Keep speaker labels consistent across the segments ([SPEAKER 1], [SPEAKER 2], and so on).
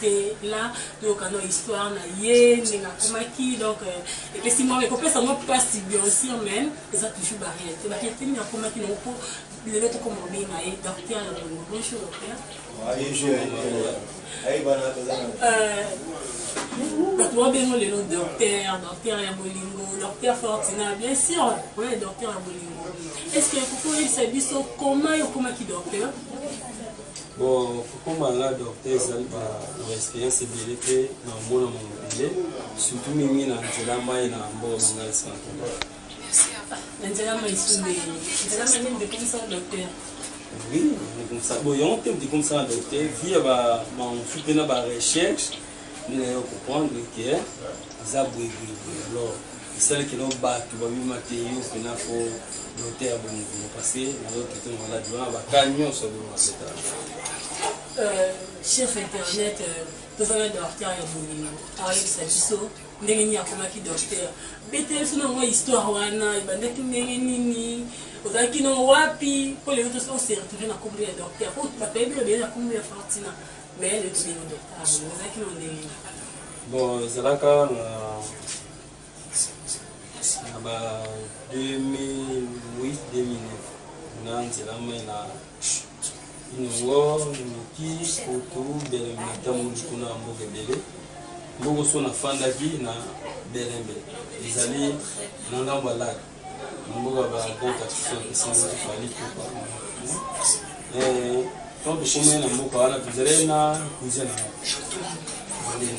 [SPEAKER 1] te là toyoka no histoire na ye ndenge akomaki donc euh, epesi mwa ekopesa mwa mpasi bien sûr mais eza toujours baréalité baréalité nini akomaki nango mpo lelo tokoma obenga ye docteur ya bongo bonjour docteur bato babengo lelo docteur docteur ya bolingo docteur fortina bien sûr oye docteur ya bolingo est ce que ekokoyebisa biso koma yo okomaki docteur
[SPEAKER 2] Bon, kokoma nga docteur ezali ba na experience ebele mpe na omona mama ebele surtout mingi na nzela mai na mboka na ngai santola na nzela mai sule
[SPEAKER 1] nzela mai nini dekomisaka docteur oui
[SPEAKER 2] dekomisa bo yango te dekomisaka docteur via ba mansu mpe na ba recherche nde nayo comprendre ke eza boyeboyeboye alors esali kino bato babima te yo mpena fo dote ya bomokomo parce nazo traite maladi wana baka nyonso abima seta euh,
[SPEAKER 1] chef internet euh, tozala docteur ya bolingo ayebisa biso ndenge nini akomaki docteur beteli so nango histoire wana ebandaki ndenge nini ozalaki no wapi mpo lelo ose retrouve na kombo ya docteur po bato bayebi obele na kombo ya fortina mais lelo tobino docteur ozalaki no ndenge nini bon
[SPEAKER 2] ezalaka na na ba 2008-2009 na nzela mai na inongo noki kutu bele natamoli kuna ya mboka ebele mboka so nafandaki na belembe ezali na ngambo ya laka na mboka ba grand artisan esanzaki fali kupa ntango tokomai na mboka wana tozalai na kuze na ngai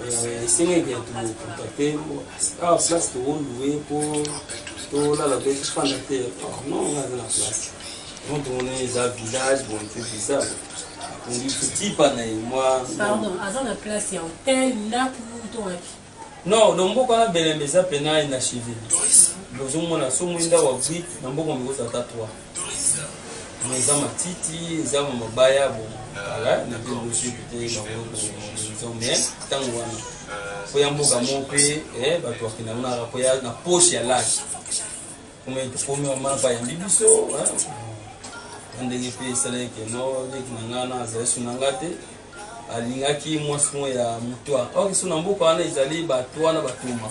[SPEAKER 2] Euh, esengeli ya tokontakte awa ah, place tokolue mpo tolala mpe tofanda te non nga aza na place donc tomona eza village bon mpe bizarre tipa na ye mwa pardon aza na
[SPEAKER 1] place ya hotel ndako to wapi non donc
[SPEAKER 2] mboka wana belembe eza mpena inachive bozomona somo ndako ya brike na mboka mikosa ata 3 mais eza matiti eza mabaya bo kala na mpe bosi mpe bango bomonisation mais ntango wana mpo ya mboka moko mpe eh, bato bakenda kuna mpo ya na poche ya laki kome tokomi mama bayambi biso na ndenge mpe esalaki keno leki na ngai na azali so na ngai te alingaki mwasi moko ya mutwa or so na mboka wana ezali bato wana batuma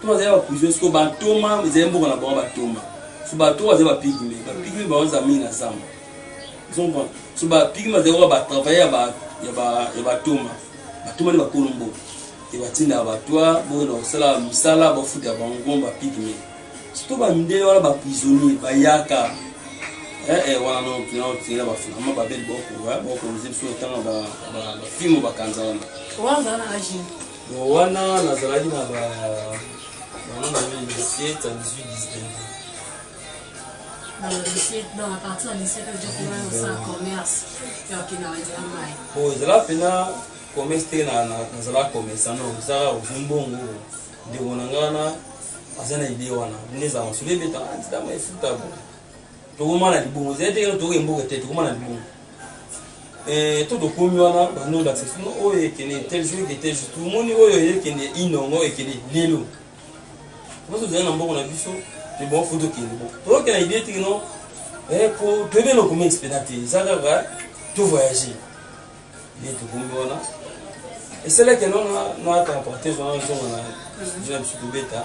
[SPEAKER 2] to bazali ba prison siko ba ntoma ezali mboka na bango ba ntoma so ba to bazali ba pigme ba pigme bango za mingi na zamba zomba so ba pigme bazali ko ba travailler ya ba ya ba ya ba ntoma ba ntoma ni ba kolo mboka e ba tinda ba toi bo na sala musala ba futa bango ngomba pigme surtout ba mindele wana ba prisonnier ba yaka eh eh wana no kina kina ba fina ba bel boko ba boko nzimso tanga ba ba fimo ba kanza wana wana na aji Bon, wana nazalaki na ba mama na yo lycée ta 18 19 bon ezala mpena commerce te nazala commerçant no ezaka ozwi mbongo ndeko na ngai wana aza na idee wana nde ezala masolo ebetaka ntitama efuta bo tokomaka na libongo ezali te kaka tokoke mboka te tokomaka na libongo eh, to tokomi wana bando olakisa sino oyo ekende tel jour eke tel jour tomoni oyo ekende inongo ekende lelo biso tozali na mboko na biso ebongo fo tokende bo toyoke na idee tiki no eh, po toyebi eloko mingi mpena te eza kaka to voyage nde tokomi wana esalaki no na temportez wana ezonga na biso tobeta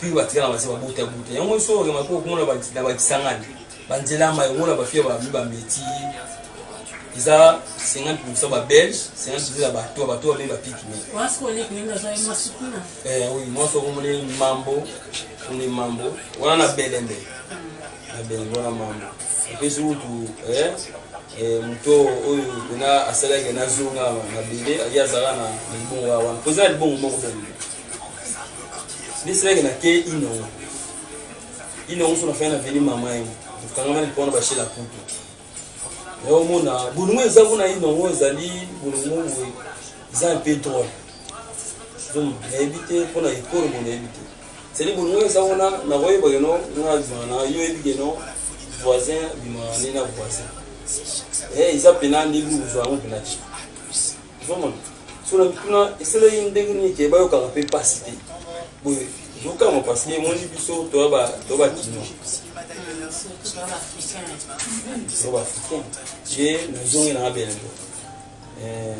[SPEAKER 2] puis batikala basi babuta buta yango nso remake okomona na bakisangani banzela ya mai omona bafia bami bameti eza 50 pourcent babelge 50 pourcent ya bato bato bami bapiki me oui mwasi okomoni mambo oni mambo wana na belembe na belembe wana mambo epesi kutu Eh, moto oyo pena asalaki nazonga mabele ye azalaka na libongo ya wana mpoza ya libongo moko bene Ni sila ke na ke inongo. Inongo so na fanya na veni mama ye. Kanga mani pona ba shela putu. Yo mona bulungu eza kuna inongo ezali bulungu we. Eza un peu drôle. Donc na ebite pona ekoro mona ebite. C'est le bulungu eza kuna na voye ba geno na zana yo ebite no voisin bimana na voisin. Eh eza pena ni bulungu zo ango pena. ozomona so na mituna esaleli ndenge nini ke bayokaka mpe mpasi te boye zokanga parce que emoni biso toya bakino so baafricain ye nazongi nanga belendo eh,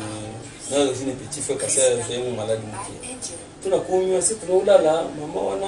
[SPEAKER 2] nayo ozwi ne petit frère kasi azali mo maladi moke mpo nakomi ase tuna olala mama wana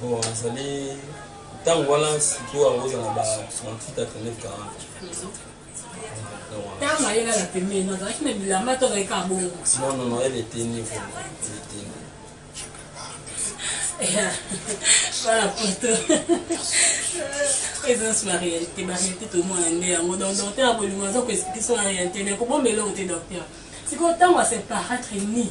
[SPEAKER 1] Bon,
[SPEAKER 2] azali ntango wana sikoyo yango ozala ba 38 39 40 ntango ayela na pembeni
[SPEAKER 1] azalaki na bilamba to azalaki kaka bongo non non non elle était
[SPEAKER 2] nue vraiment elle était nue
[SPEAKER 1] voilà poto présence ba réalité ba réalité tomona nde yango donc docteur akolinga aza koexplike so na réalité mais kobomba eloko te docteur sikoyo ntango aseparatre ni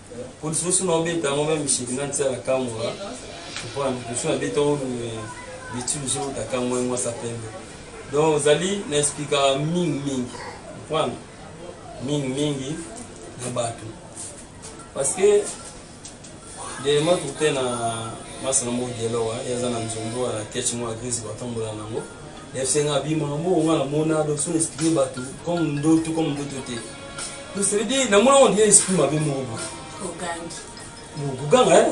[SPEAKER 2] Polisi osu na obeta yango meme shiki na tia la kamwa. Comprendre? Osu na beta oyo bitu bisu uta kamwa yango sa pembe. Donc ozali na expliquer mingi mingi. Comprendre? Mingi mingi na batu. Parce que Dema tute na masana mo dialogue ya zana nzombo ya ketch mo agrizi batambola nango. FC nga abima moko nga na mona donc son expliquer bato comme ndoto comme ndoto te donc ça veut dire na mona on dirait esprit mabe moko boye ogangi bokoganga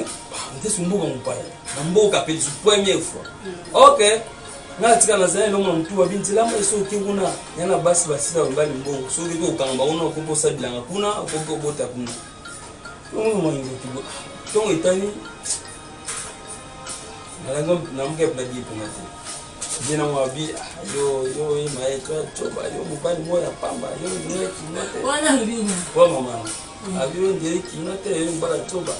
[SPEAKER 2] ntesi mboka mopaya na mboka mpe lisu première fois ok nga tika nazali elongo na motu babi nzela mai soki oke kuna ya na basi basila babali mbongo soki oke okanga bango na okoki osala bilanga kuna okoki obota kuna yango moingoki ntongo etani nalango namoka mpona diepona te Bien na mwa bi yo yo ye maye to to ba yo mobali moya pamba yo ndoye kino te. Wana lubina. Wa
[SPEAKER 1] mama.
[SPEAKER 2] Abi yo ndoye kino te yo mbala to ba.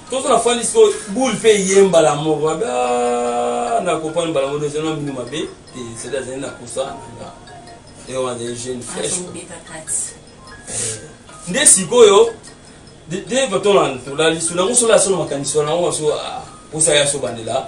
[SPEAKER 2] Tozo na fani so boule pe yemba la moko abi ah, na kopani bala moko dezo na minu mabe te c'est à dire na kusa na. Et on a des jeunes fraîches. Nde sikoyo de de bato na tolali sona ngo sola sona makanisi wana ngo so ah, osaya so bandela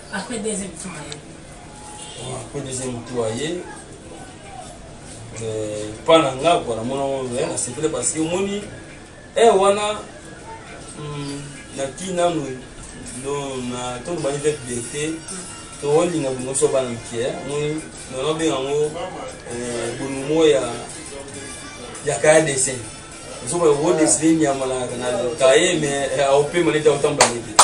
[SPEAKER 1] Après deuxième
[SPEAKER 2] tour aye. Oh, après deuxième tour aye. Euh, pas na nga quoi na mona ngo na sepele parce que omoni eh wana hmm, na ki nanu donc na to ba nivek bete to woni na bongo so ba nkie eh. moni na no be ngo euh bonumo ya ya kaya dessin so ba wo dessin nyama na na kaye mais eh, au pema leta otamba leta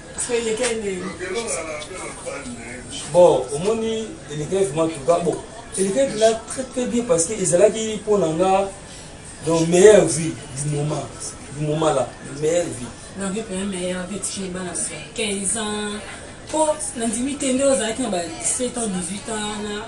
[SPEAKER 2] bon omoni elekele vraiment tuka bon elekele mpena très très bien parce que ezalaki mpo na nga donc meilleure vie du moment du moment là meilleure vie donc mpena meilleure
[SPEAKER 1] vie tii bana 15 ans mpo nandimi te nde ozalaki na ba 17 ans 18 ans na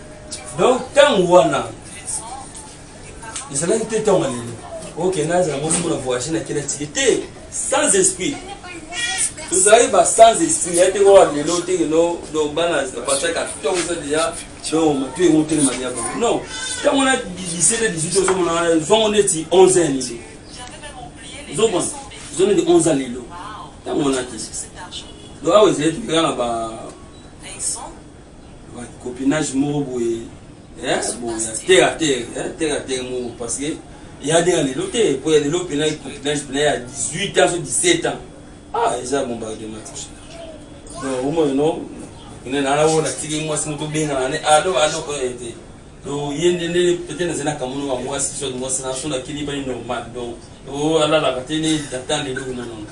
[SPEAKER 2] donc ntango wana ezalaki te ntango alelo oke nazala moko mona voyage na kela tike te sans esprit tozalaki ba sans esprit ya te oyo lelo te lelo donc bana bapasaka ntongo eza deja donc matu yango telema deja bango non ntango wana 17 na 18 ozomona wana zongo neti 11 ya lelo ozomona zo neti 11 ya lelo ntango wana te donc awa ezali tokekana ba copinage moko boye eh, boye terre à terre eh, terre à terre moko parce que ya ndenge ya lelo te mpo ya lelo mpena copinage mpena ya 18 ans so 17 ans ah eza bombardement donc omoi no ine nana oyo natiki mwasi moto obengana ne alo ah, alo oyo te donc ye nde nde peut-être nazali na kamono ya mwasi soit mwasi na so nakili bani normal donc oh, alalaka te ne datande eloko nanona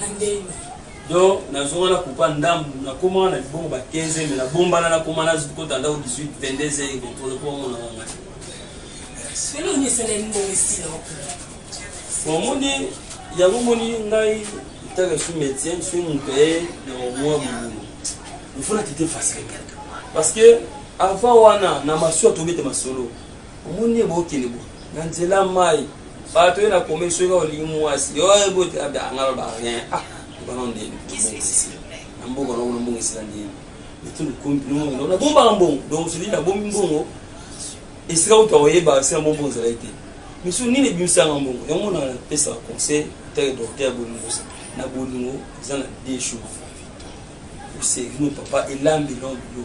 [SPEAKER 2] Na ndenge. Donc nazonga na kupa ndambu na koma na libongo ba 15 mais na bombana na koma na zuko tanda 18 22 et contrôle pour mon wanga.
[SPEAKER 1] Selo ni sele mbo ici là. Bon
[SPEAKER 2] moni ya bomoni ngai tanga su médecin su mon père na mwa mulu. Il faut la quitter facile parce que avant wana na masio tobete masolo. omoni ye bokende bo na nzela mai bato ye na komeli soki kaka olingi mwasi yo bote abda anga loba rien ah bana ndeni na mbongo na kuna mbongo esila ndeni etulu komi mbongo na bombaka mbongo donc sodi na bombi mbongo esika kutu akoyeba sila mbongo mbongo ezalaki te misu nini ebimisaka mbongo yango mona napesaka conseil teke docteur bolingo na bolingo eza na deux choses osegino papa elambi lombi yo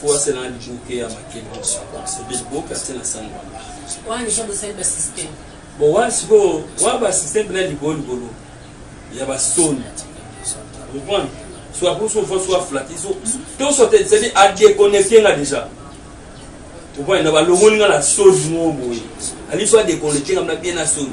[SPEAKER 2] fo asala na liboke ya makemba sobe liboke atie na sani wana wana deja
[SPEAKER 1] bosali basysteme bon wana sikoyo
[SPEAKER 2] wana basysteme na likolo likolo ya basoni comprendre soit kuso fo soit flati so to so te c'est à déconnecter nga déjà comprendre na balongoli nga na soni mo boye ali soit déconnecter nga na bien na soni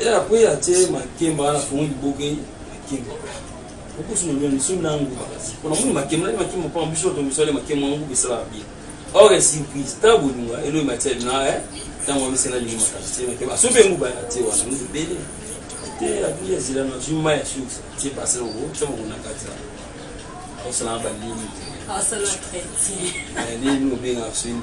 [SPEAKER 2] Ela na kweya te makemba wana fongo liboke makemba okusu na loni so na nguba pona moni makemba na makemba pa biso to biso ale makemba na nguba esala bien or e surprise ta bolinga elo matière na eh tango amisi na lingi makasi te makemba so pe nguba ya te wana nguba bele te abi ya zela na juma ya sux te pase ngo te mo na kati osala ba limi osala
[SPEAKER 1] chrétien limi obenga
[SPEAKER 2] sini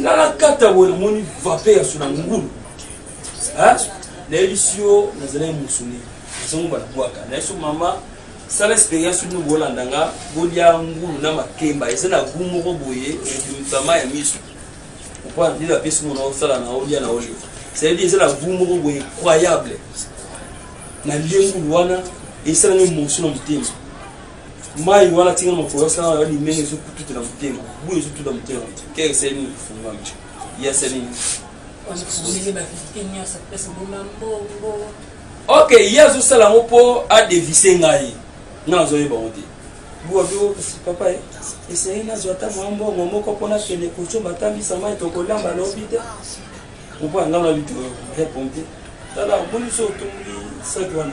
[SPEAKER 2] nga nakata boye namoni vape ya sona ngulu nayebisi yo nazalaki mosuni nazango banabwaka nayebisi yo mama sala experience bino bolanda nga bolia ngulu na makemba eza na gu moko boye ebimama ya miso opo andini bapesi mona osala na olia na olia cetadire eza na gu moko boye incroyable nalie ngulu wana esalami mosu na motema mai wana tika makolo asala na limenge ezokututa na motema buyi ezotuta motema te keke sali nini kofungami ya sali nini ok ye azosala yango mpo adevise ngai nga nazoyeba yango te papa eh, esengeli nazwa ata mwa mbongo moko mpo nakende kosomba atambisa mai tokolamba lobi te opo anga na bito repompe tala omoni so otumbi saki wana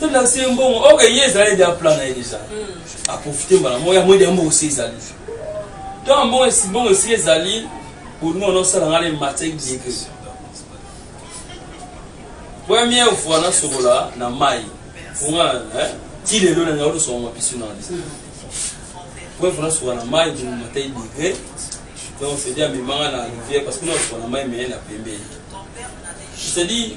[SPEAKER 1] to
[SPEAKER 2] lakisa ye mbongo oke ye ezali deja plan na ye deja hmm. aprofite mbala moko yango ede mbongo si ezali to mbongo mbongo esi ezali bolingo wana osala ngai na matière dieke première fois nasokola na mai fonga ti lelo na ngai olosoka mwa biso na lisa première fois nasokola na mai bolingo matière dieke donc c'est-à-dire amemanga na rivière parce que nasokola na mai meye na pembeni c'est-à-dire